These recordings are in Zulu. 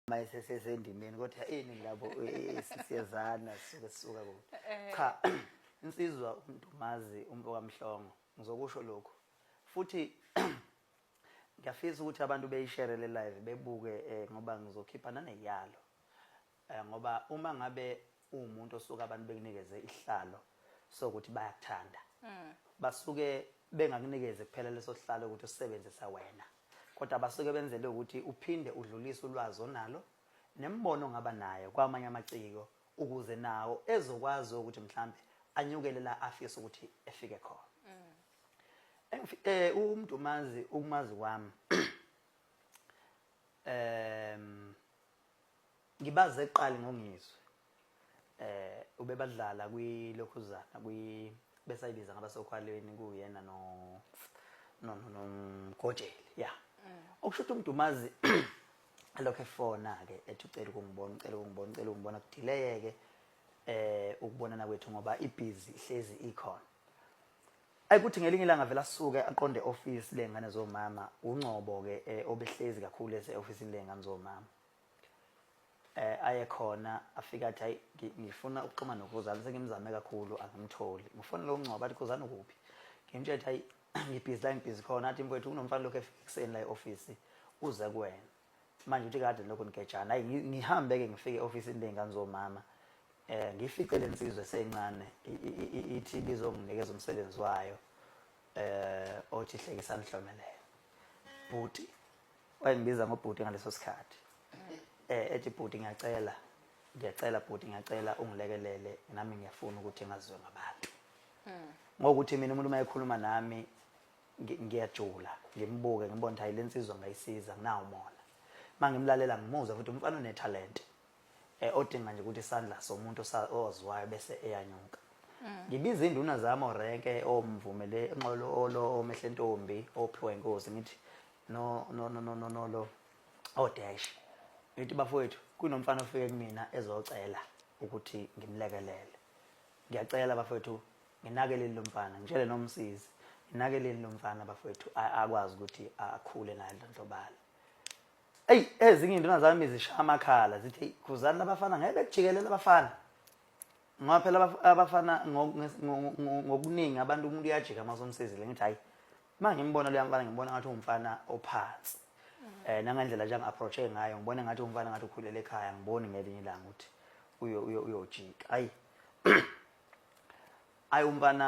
uma esesendimeni kodwa ini labo siyezana sisuke sisuka kude eh. cha insizwa umuntu mazi umfo kamhlongo ngizokusho lokho futhi ngiyafisa ukuthi abantu beyishare le live bebuke eh, ngoba ngizokhipha naneyalo eh, ngoba uma ngabe uwumuntu osuke abantu bekunikeze isihlalo sokuthi bayakuthanda mm. basuke bengakunikeze kuphela leso sihlalo ukuthi usebenzisa wena kodwa basuke benzele ukuthi uphinde udlulise ulwazi onalo nembono ngaba nayo kwamanye amaciko ukuze nawo ezokwazi ukuthi mhlambe anyukele la afisa ukuthi efike khona mm. eh umuntu umazi ukumazi kwami em Ngibaze kuqali ngongizwe. Eh ubebadlala kwi Lokhuzana kwi besayibiza ngabasokhwalweni kuyena no no no no Gojeli. Yeah. Okusho ukuthi umdumazi lokho efona ke ethi ucela ukungibona, ucela ukungibona, ucela ukungibona kudileyeke eh ukubonana kwethu ngoba ibhizi ihlezi ikhona. ayikuthi ngelinye ilanga vele asuke aqonde office lengane zomama ungcobo ke eh, obehlezi kakhulu ese office lengane zomama eh aye khona afika athi hayi ngi- ngifuna ukuxhuma nokhuzani sengimzame kakhulu angimtholi ngifuna lo ngcwaba athi khuzani ukuphi ngimtshela ukuthi hayi ngibhizi la ngibhizi khona athi mfowethu kunomfana lokhu efika ekuseni la e-ofisi uze kuwena manje uthi kade lokhu nigejana hayi ngi- ngihambe-ke ngifike e-ofisini ley'ngane zomama um ngifice le nsizwe esencane i- i- i- ithi bizonginikeza umsebenzi wayo um othi hlekisani hlomelele bhuti wayengibiza ngobhuti ngaleso sikhathi eh ethi bhuti ngiyacela ngiyacela bhuti ngiyacela ungilekelele nami ngiyafuna ukuthi ngazizwe ngabantu hmm. ngokuthi mina umuntu mayekhuluma nami ngiyajula ngimbuke ngibona ukuthi hayi lensizwa ngayisiza nginawo mona mangimlalela ngimuza futhi umfana unetalent eh, odinga nje ukuthi isandla somuntu oziwayo bese eyanyuka mm. ngibiza induna zami orenke omvumele enqolo olo omehle ntombi ophiwe inkosi ngithi no no no no no no lo odash ngithi bafowethu kunomfana ofike kumina ezocela ukuthi ngimlekelele ngiyacela bafowethu nginakeleni lo mfana ngitshele nomsizi nginakeleni lo mfana bafowethu akwazi ukuthi akhule naye ndlondlobala eyi ezinye iy'nduna zami zishaya amakhala zithi eyi khuzani labafana ngeke bekujikelele abafana ngoba phela abafana ngokuningi abantu umuntu uyajika uma somsizile ngithi hhayi uma ngimbona loya mfana ngimbona ngathi uwumfana ophansi um nangendlela nje angi-approach-e ngayo ngibona ngathi umfana ngathi ukhulele ekhaya ngiboni ngelinye ilanga ukuthi uyojika hhayi hhayi umfana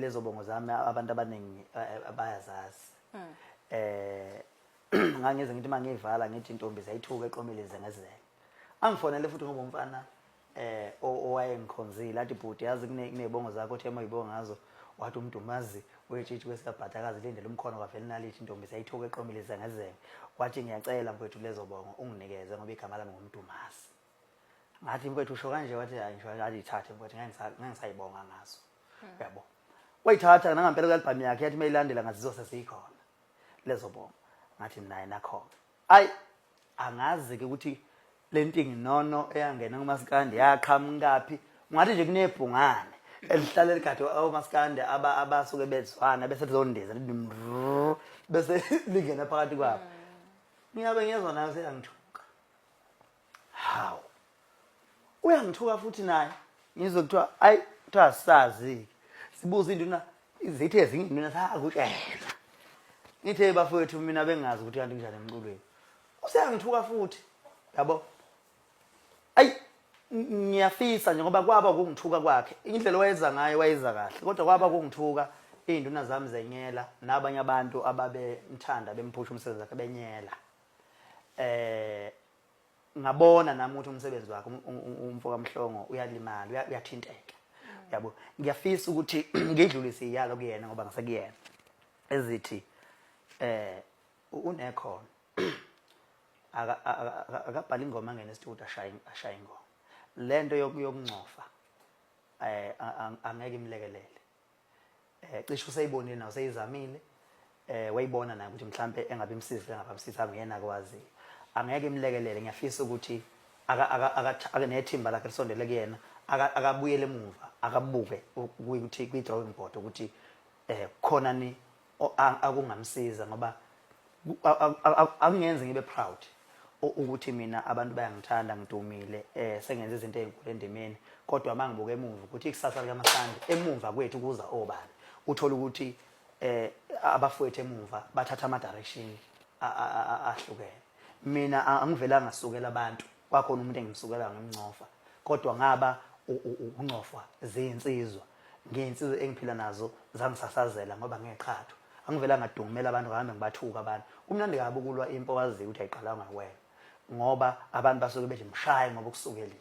lezo bongo zami abantu abaningi eh, eh, bayazazi hmm. eh ngangize ngithi mangiyivala ngithi intombi zayithuka eqomile ize ngezele angifonele futhi ngoba umfana eh owayengikhonzile athi bhuti yazi kunebongo zakho othe moyibonga ngazo wathi umdumazi wetshitshi kwesikabhadakazi lindele umkhono kwavele nalithi intombi sayithuka eqomile ize ngezele wathi ngiyacela mfowethu lezo bongo unginikeze ngoba igama lami ngumdumazi ngathi mfethu usho kanje wathi hayi ngisho alithathe mfethu ngengisayibonga ngaso hmm. yabo wayithatha nangampela kuyalibhamu yakhe yathi mayilandela ngathi zose siyikhona lezo bonga ngathi naye nakhona ayi angazi ke ukuthi lentingi nono eyangena kumasikandi yaqhamukaphi ngathi nje kunebhungane elihlale ligade omasikandi abasuke bezwana bese lizondiza bese lingena phakathi kwabo hmm. mina bengiyezwa nayo seyangithuka hawu uyangithuka futhi naye ngizwe kuthiwa ayi kuthiwa asazi-ke sibuza induna zithi ezinye induna sakutshela ngithe bafowethu mina bengazi ukuthi kanti kunjani emculweni useyangithuka futhi yabo ayi ngiyafisa nje ngoba kwaba kungithuka kwakhe indlela wayeza ngayo wayeza kahle kodwa kwaba kungithuka iy'nduna zami zenyela nabanye abantu ababemthanda bemphusha umsebenzi wakhe benyela eh ngabona nami ukuthi umsebenzi wakhe um, um, um, umfo kaMhlongo uyalimala uyathinteka yabo ngiyafisa ukuthi ngidlulise iyalo kuyena ngoba ngisekuyena ezithi eh unekhona akabhala ingoma ngene studio ashaye ashaye ingoma lento yokuyokungcofa eh angeke imlekelele eh cishe useyibonile nawo seyizamile eh wayibona naye ukuthi mhlambe engabe imsizile ngaba msiza nguyena akwazi angeke imlekelele ngiyafisa ukuthi aka aka aka nethimba lakhe lisondele kuyena akabuyele emuva akabuke ukuthi kwi drawing board ukuthi eh khona ni akungamsiza ngoba akungenzi ngibe proud ukuthi mina abantu bayangithanda ngidumile eh sengenza izinto ezinkulu endimeni kodwa mangibuka emuva ukuthi ikusasa likamasandi emuva kwethu kuza obani uthola ukuthi eh abafowethu emuva bathatha ama direction ahlukene mina angivelanga sukela abantu kwakhona umuntu engimsukela ngimncofa kodwa ngaba ukungcofwa zinsizwa Ngiyinsizwa engiphila nazo zangisasazela ngoba ngeqhatho. Angivela ngadungumela abantu ngahambe ngibathuka abantu. Kumnandi kabi ukulwa impi owaziyo ukuthi ayiqalanga ngakwena. Ngoba abantu basuke bethi mshaye ngoba ukusukelile.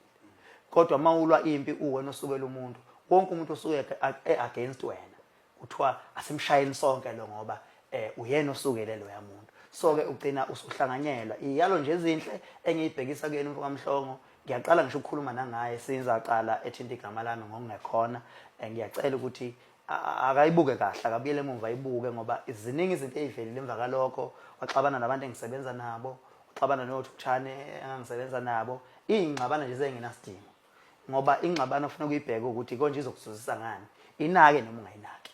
Kodwa uma ulwa impi uwena osukela umuntu, wonke umuntu osuke e-against wena. Kuthiwa asimshayeni sonke lo ngoba eh uyena osukele loya muntu. So-ke ugcina usuhlanganyelwa. Iyalo nje ezinhle engiyibhekisa kuyena umfokamhlongo ngiyaqala ngisho ukukhuluma nangaye since aqala ethinta igama lami ngokungekhona eh, ngiyacela ukuthi akayibuke kahle akabuyele emuva ayibuke ngoba ziningi izinto ezivelile emva kalokho waxabana nabantu engisebenza nabo waxabana nothukthane engangisebenza nabo iyingxabana nje zengenasidingo ngoba ingxabano ofuna ukuyibheka ukuthi konje izokuzuzisa ngani inake noma ungayinaki